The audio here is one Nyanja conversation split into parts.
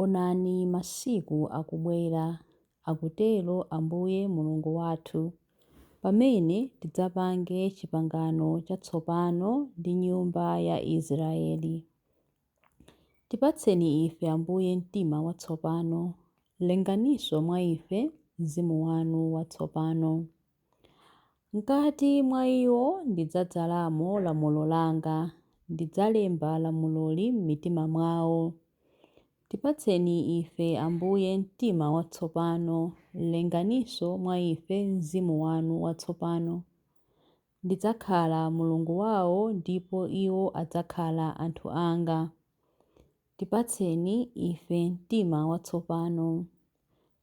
Onani masiku akubwera, akutero Ambuye Mulungu wathu, pamene tidzapange chipangano chatsopano ndi nyumba ya Israeli. Tipatseni ife, Ambuye, mtima watsopano, lenganinso mwa ife mzimu wanu watsopano. Mkati mwa iwo ndidzadzalamo lamulo langa, ndidzalemba lamuloli m'mitima mwawo. Tipatseni ife, Ambuye, mtima watsopano, lenganinso mwa ife mzimu wanu watsopano. Ndidzakhala Mulungu wawo ndipo iwo adzakhala anthu anga. Tipatseni ife mtima watsopano.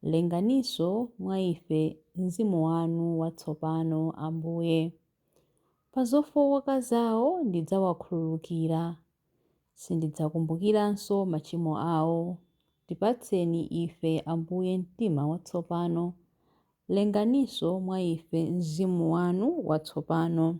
Lenganinso mwa ife Mzimu wanu watsopano, Ambuye. Pa zofooka zawo ndidzawakhululukira. Sindidzakumbukiranso machimo awo. Tipatseni ife, Ambuye, mtima watsopano. Lenganinso mwa ife Mzimu wanu watsopano.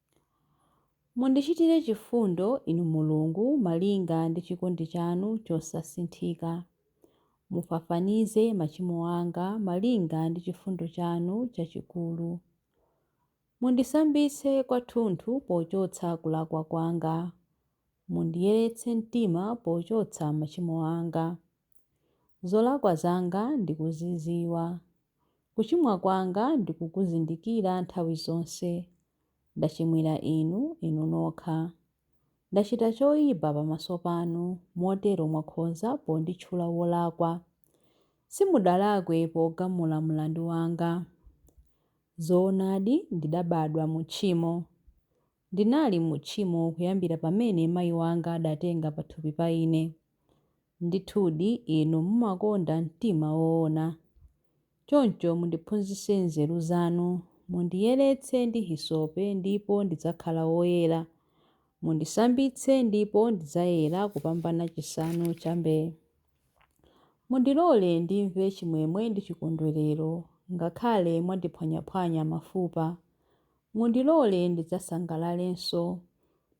Mundichitire chifundo, Inu Mulungu, malinga ndi chikondi chanu chosasinthika. Mufafanize machimo anga malinga ndi chifundo chanu chachikulu. Mundisambitse kwathunthu pochotsa kulakwa kwanga. Mundiyeretse mtima pochotsa machimo anga. Zolakwa zanga ndikuzidziwa. Kuchimwa kwanga ndikukuzindikira nthawi zonse. Ndachimwira Inu, Inu nokha. Ndachita choipa pamaso panu, motero mwakhoza ponditchula wolakwa. Simudalakwe pogamula mlandu wanga. Zoonadi, ndidabadwa mu tchimo. Ndinali mu tchimo kuyambira pamene mai wanga adatenga pathupi pa ine. Ndithudi Inu mumakonda mtima woona. Choncho mundiphunzitse nzeru zanu. Mundiyeretse ndi hisope ndipo ndidzakhala woyera. Mundisambitse ndipo ndidzayera kupambana chisanu cha mbee. Mundilole ndimve chimwemwe ndi chikondwerero, ngakhale mwandiphwanyaphwanya mafupa. Mundilole ndidzasangalalenso.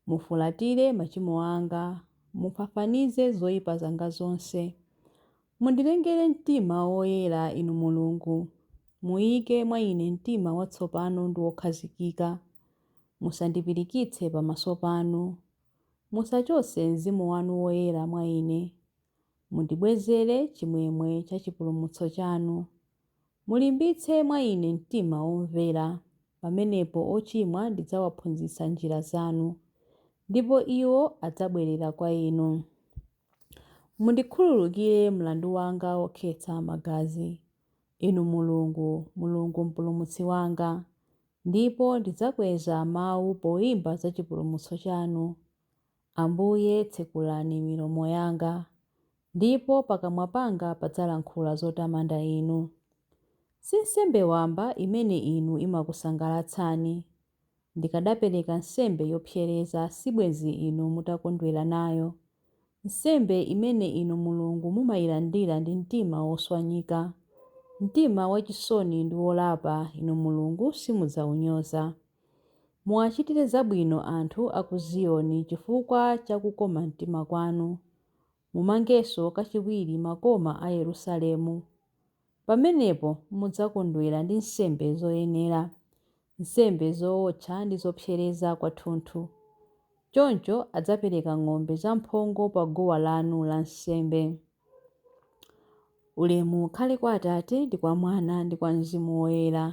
Mufulatire machimo anga, mufafanize zoipa zanga zonse. Mundilengere mtima woyera, Inu Mulungu, muike mwa ine mtima watsopano ndi wokhazikika. Musandipirikitse pamaso panu. Musachotse Mzimu wanu Woyera mwa ine. Mundibwezere chimwemwe cha chipulumutso chanu. Mulimbitse mwa ine mtima womvera, pamenepo ochimwa ndidzawaphunzitsa njira zanu, ndipo iwo adzabwerera kwa inu. Mundikhululukire mlandu wanga wokhetsa magazi, Inu Mulungu, Mulungu Mpulumutsi wanga, ndipo ndidzakweza mawu poimba za chipulumutso chanu. Ambuye, tsekulani milomo yanga, ndipo pakamwa panga padzalankhula zotamanda Inu. Si nsembe wamba imene Inu imakusangalatsani. Ndikadapereka nsembe yopsereza sibwenzi Inu mutakondwera nayo, nsembe imene Inu Mulungu mumailandira ndi mtima woswanyika. Mtima wachisoni ndi wolapa Inu Mulungu simudzaunyoza. Muwachitire zabwino anthu a ku Ziyoni chifukwa cha kukoma mtima kwanu, mumangenso kachiwiri makoma a Yerusalemu. Pamenepo mudzakondwera ndi nsembe zoyenera, nsembe zowotcha ndi zopsereza kwathunthu. Choncho adzapereka ng'ombe zamphongo paguwa lanu lansembe. Ulemu ukhale kwa Atate ndi kwa Mwana ndi kwa Mzimu Woyera.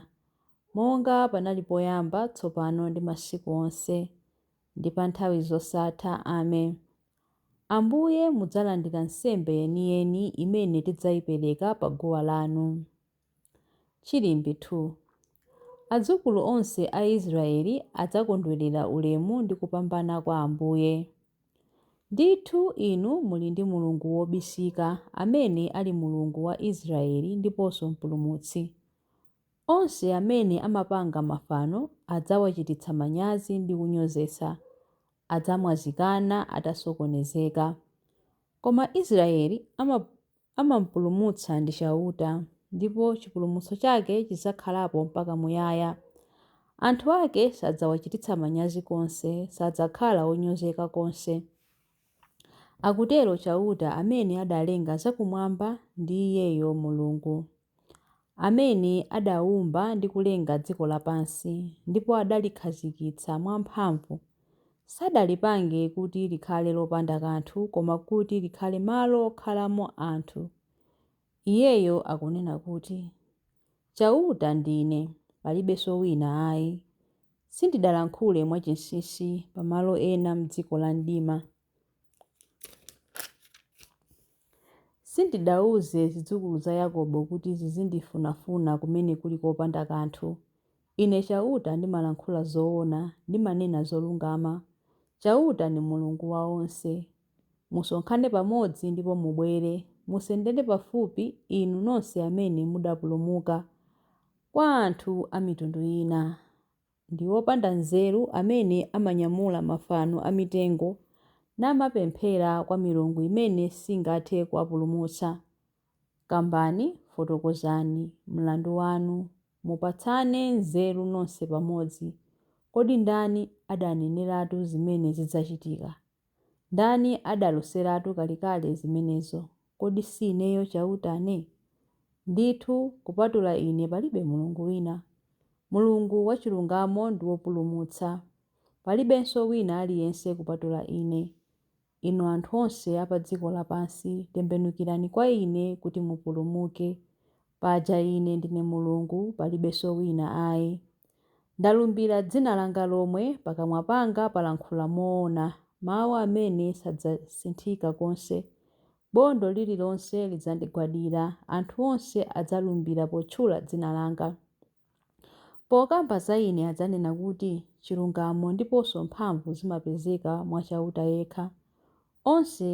Monga panali poyamba, tsopano, ndi masiku onse, ndi pa nthawi zosatha. Amen. Ambuye, mudzalandira nsembe yeniyeni imene tidzaipereka pa guwa lanu. Chilimbi 2. Adzukulu onse a Israeli adzakondwerera ulemu ndi kupambana kwa Ambuye. Ndithu Inu muli ndi Mulungu wobisika, amene ali Mulungu wa Israeli ndiponso Mpulumutsi. Onse amene amapanga mafano adzawachititsa manyazi ndi kunyozetsa, adzamwazikana atasokonezeka. Koma Israeli amam'pulumutsa ndi Chauta, ndipo chipulumutso chake chidzakhalapo mpaka muyaya. Anthu ake sadzawachititsa manyazi konse, sadzakhala onyozeka konse. Akutero Chauta amene adalenga zakumwamba ndi Iyeyo Mulungu. amene adaumba ndi kulenga dziko lapansi ndipo adalikhazikitsa mwamphamvu, sadalipange kuti likhale lopanda kanthu koma kuti likhale malo okhalamo anthu. Iyeyo akunena kuti, Chauta ndine, palibenso wina ayi. Sindidalankhule mwachinsinsi pa malo ena m'dziko la mdima. Sindidauze zidzukulu za Yakobo kuti zizindifunafuna kumene kuli kopanda kanthu. Ine Chauta ndimalankhula zoona, ndimanena zolungama. Chauta ndi Mulungu wa onse. Musonkhane pamodzi ndipo mubwere. Musendere pafupi, inu nonse amene mudapulumuka kwa anthu a mitundu ina. Ndi opanda nzeru amene amanyamula mafano a mitengo namapemphera kwa milungu imene singathe kuwapulumutsa. Kambani, fotokozani, mlandu wanu, mupatsane nzeru nonse pamodzi. Kodi ndani adaneneratu zimene zidzachitika? Ndani adaloseratu kalekale zimenezo? Kodi si Ineyo, Chautane? Ndithu, kupatula Ine palibe Mulungu wina. Mulungu wachilungamo ndi wopulumutsa. Palibenso wina aliyense kupatula Ine. Inu anthu onse a pa dziko lapansi, tembenukirani kwa Ine kuti mupulumuke. Paja ine ndine Mulungu, palibenso wina ai. Ndalumbira dzina langa lomwe, pakamwa panga palankhula moona, mau amene sadzasinthika konse. Bondo lililonse lidzandigwadira, anthu onse adzalumbira potchula dzina langa. Pokamba za ine adzanena kuti, Chilungamo ndiponso mphamvu zimapezeka mwa Chauta yekha. Onse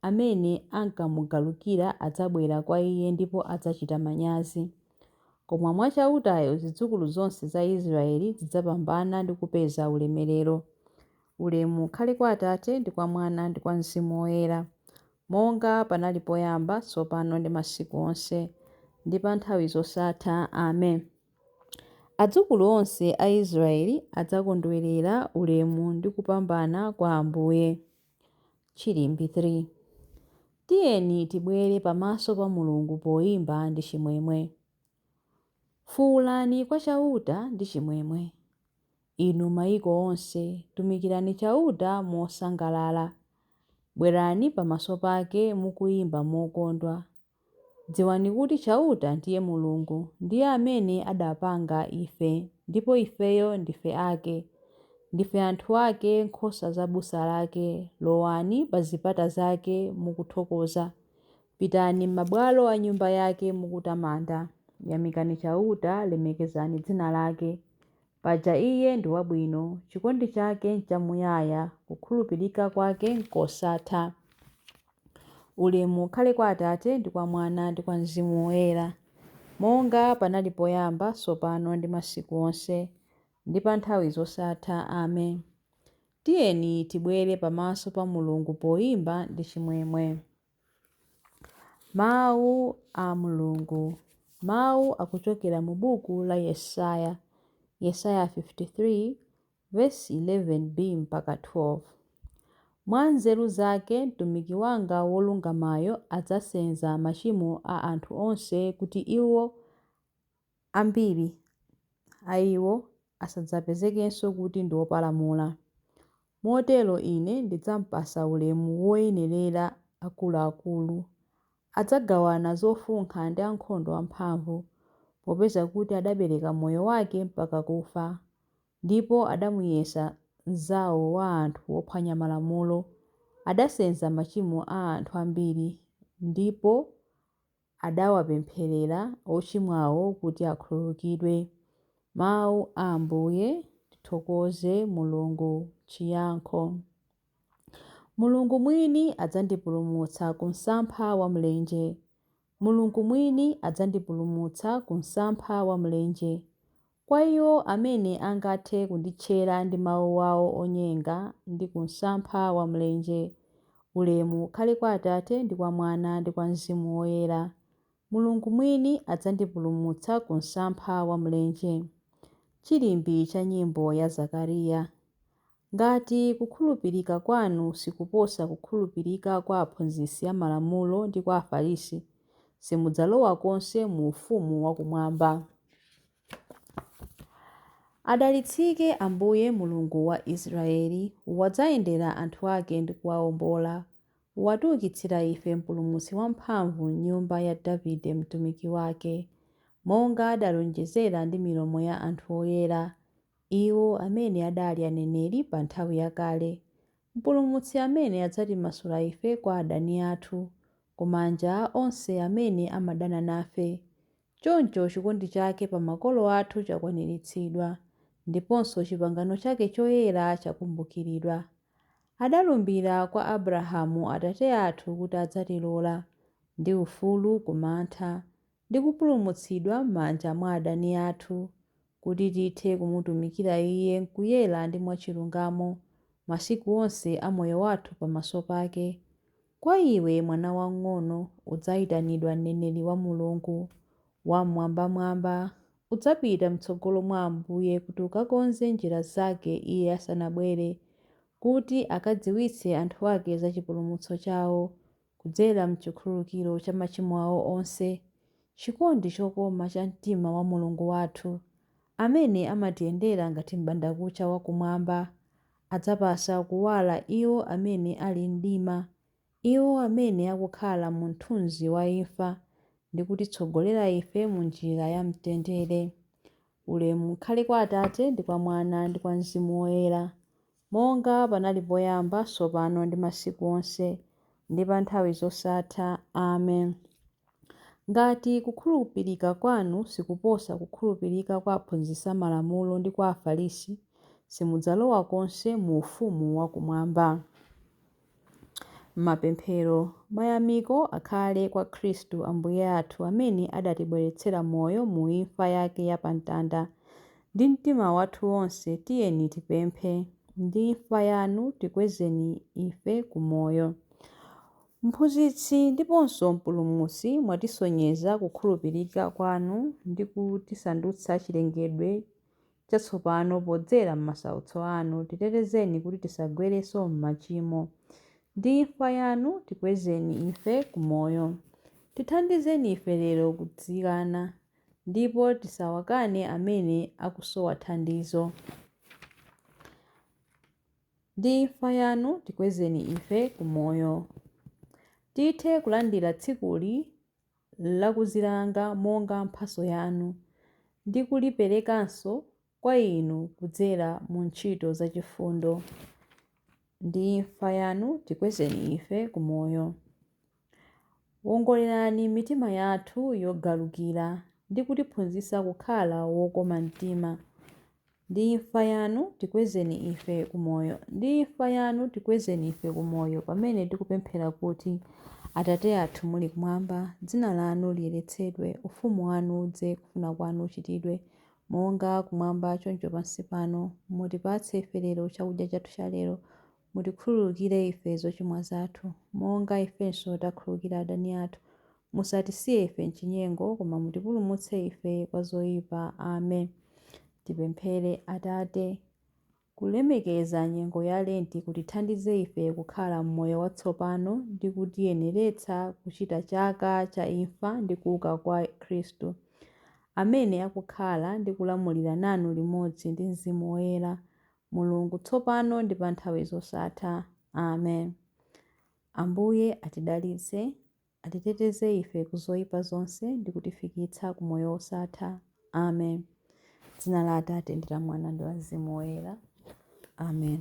amene ankamugalukira adzabwera kwa iye ndipo adzachita manyazi. Koma mwa Chautayo zidzukulu zonse za Israeli zidzapambana ndi kupeza ulemerero. Ulemu ukhale kwa Atate, ndi kwa Mwana, ndi kwa Mzimu Woyera. Monga panali poyamba, tsopano ndi masiku onse, ndi pa nthawi zosatha. Amen. Adzukulu onse a Israeli adzakondwerera ulemu ndi kupambana kwa Ambuye. Chilimbi 3. Tiyeni tibwere pamaso pa Mulungu poimba ndi chimwemwe. Fuulani kwa Chauta ndi chimwemwe. Inu maiko onse, tumikirani Chauta mosangalala, bwerani pamaso pake mukuimba mokondwa. Dziwani kuti Chauta ndiye Mulungu, ndiye amene adapanga ife, ndipo ifeyo ndife ake. Ndife anthu ake, nkhosa za busa lake, lowani pa zipata zake mukuthokoza, pitani m'mabwalo a Nyumba yake mukutamanda. Yamikani Chauta, lemekezani dzina lake. Paja Iye ndi wabwino, chikondi chake nchamuyaya, kukhulupirika kwake nkosatha. Ulemu ukhale kwa Atate, ndi kwa Mwana, ndi kwa Mzimu Woyera, monga panali poyamba, tsopano ndi masiku onse, ndi pa nthawi zosatha. Amen. Tiyeni tibwere pamaso pa Mulungu poyimba ndi chimwemwe. Mawu a Mulungu, mawu akuchokera mu buku la Yesaya, Yesaya 53 vesi 11b mpaka 12. Mwa nzeru zake mtumiki wanga wolungamayo adzasenza machimo a anthu onse kuti iwo Ambiri a iwo asadzapezekenso kuti ndi opalamula. Motero ine ndidzampasa ulemu woyenerera akuluakulu. Adzagawana zofunkha ndi ankhondo amphamvu, popeza kuti adapereka moyo wake mpaka kufa, ndipo adamuyesa mnzawo wa anthu ophwanya malamulo, adasenza machimo a anthu ambiri, ndipo adawapempherera ochimwawo kuti akhululukidwe. Mawu a Ambuye Tithokoze Mulungu Chiyankho Mulungu mwini adzandipulumutsa ku msampha wa mlenje Mulungu mwini adzandipulumutsa ku msampha wa mlenje Kwa iwo amene angathe kunditchera ndi mawu awo onyenga ndi ku msampha wa mlenje, ulemu ukhale kwa Atate ndi kwa Mwana ndi kwa Mzimu Woyera. Mulungu mwini adzandipulumutsa ku msampha wa mlenje. Chilimbi cha nyimbo ya Zakariya. Ngati kukhulupirika kwanu sikuposa kukhulupirika kwa aphunzitsi a Malamulo ndi kwa Afarisi, simudzalowa konse mu ufumu wa kumwamba. Adalitsike Ambuye Mulungu wa Israeli, wadzayendera anthu ake ndi kuwaombola, watiukitsira ife Mpulumutsi wamphamvu m'nyumba ya Davide mtumiki wake, monga adalonjezera ndi milomo ya anthu oyera, Iwo amene adali aneneri pa nthawi yakale, Mpulumutsi amene adzatimasula ife kwa adani athu, ku manja a onse amene amadana nafe. Choncho chikondi chake pa makolo athu chakwaniritsidwa, ndiponso chipangano chake choyera chakumbukiridwa. Adalumbira kwa Abrahamu atate athu kuti adzatilola, ndi ufulu ku mantha, ndi kupulumutsidwa m'manja mwa adani athu, kuti tithe kumutumikira Iye m'kuyera ndi mwachilungamo, masiku onse a moyo wathu pamaso pake. Kwa iwe, mwana wang'ono, udzaitanidwa mneneri wa Mulungu Wam'mwambamwamba. Udzapita m'tsogolo mwa Ambuye kuti ukakonze njira zake Iye asanabwere, kuti akadziwitse anthu ake za chipulumutso chao, Kudzera m'chikhululukiro cha machimo awo onse, chikondi chokoma cha mtima wa Mulungu wathu, amene amatiyendera ngati m'bandakucha wa kumwamba, adzapatsa kuwala iwo amene ali m'mdima, iwo amene akukhala mu mthunzi wa imfa, ndi kutitsogolera ife mu njira ya mtendere. Ulemu ukhale kwa Atate, ndi kwa Mwana, ndi kwa Mzimu Woyera. Monga panali poyamba, tsopano ndi masiku onse, ndi pa nthawi zosatha. Amen. Ngati kukhulupirika kwanu sikuposa kukhulupirika kwa aphunzitsi a malamulo ndi kwa Afarisi, simudzalowa konse mu ufumu wa kumwamba. Mapemphero. Mayamiko akhale kwa Khristu Ambuye athu amene adatibweretsera moyo mu imfa yake ya pa mtanda. Ndi mtima wathu wonse tiyeni tipemphe. Ndi imfa yanu tikwezeni ife ku moyo. Mphunzitsi ndiponso Mpulumutsi, mwatisonyeza kukhulupirika kwanu ndi kutisandutsa chilengedwe chatsopano podzera m'masautso anu, titetezeni kuti tisagwerenso m'machimo. Ndi imfa yanu tikwezeni ife ku moyo. Tithandizeni ife lero kudzikana, ndipo tisawakane amene akusowa thandizo. Ndi imfa yanu tikwezeni ife ku moyo. Tithe kulandira tsikuli lakudzilanga monga mphatso yanu, ndi kuliperekanso kwa Inu kudzera mu ntchito za chifundo ndi imfa Yanu, tikwezeni ife ku moyo. Wongolerani mitima yathu yogalukira ndi kutiphunzitsa kukhala wokoma mtima. Ndi imfa Yanu, tikwezeni ife ku Moyo. Ndi imfa Yanu, tikwezeni ife ku Moyo, pamene tikupemphera kuti, Atate athu muli Kumwamba, Dzina Lanu liyeretsedwe, Ufumu Wanu udze, kufuna Kwanu kuchitidwe, monga Kumwamba choncho pansi pano. Mutipatse ife lero chakudya chathu cha lero. Mutikhululukire ife zochimwa zathu, monga ifenso takhululukira adani athu. Musatisiye ife m'chinyengo, koma mutipulumutse ife kwa zoipa. Amen. Tipemphere. Atate, kulemekeza nyengo ya Lenti kutithandize ife kukhala m'moyo watsopano ndi kutiyeneretsa kuchita chaka cha imfa ndi kuuka kwa Khristu, amene akukhala ndi kulamulira nanu limodzi ndi Mzimu Woyera, Mulungu, tsopano ndi pa nthawi zosatha. Amen. Ambuye atidalitse. Atiteteze ife ku zoipa zonse ndi kutifikitsa ku moyo wosatha. Amen. Dzina la Atate ndi la Mwana ndi la Mzimu Woyera. Amen.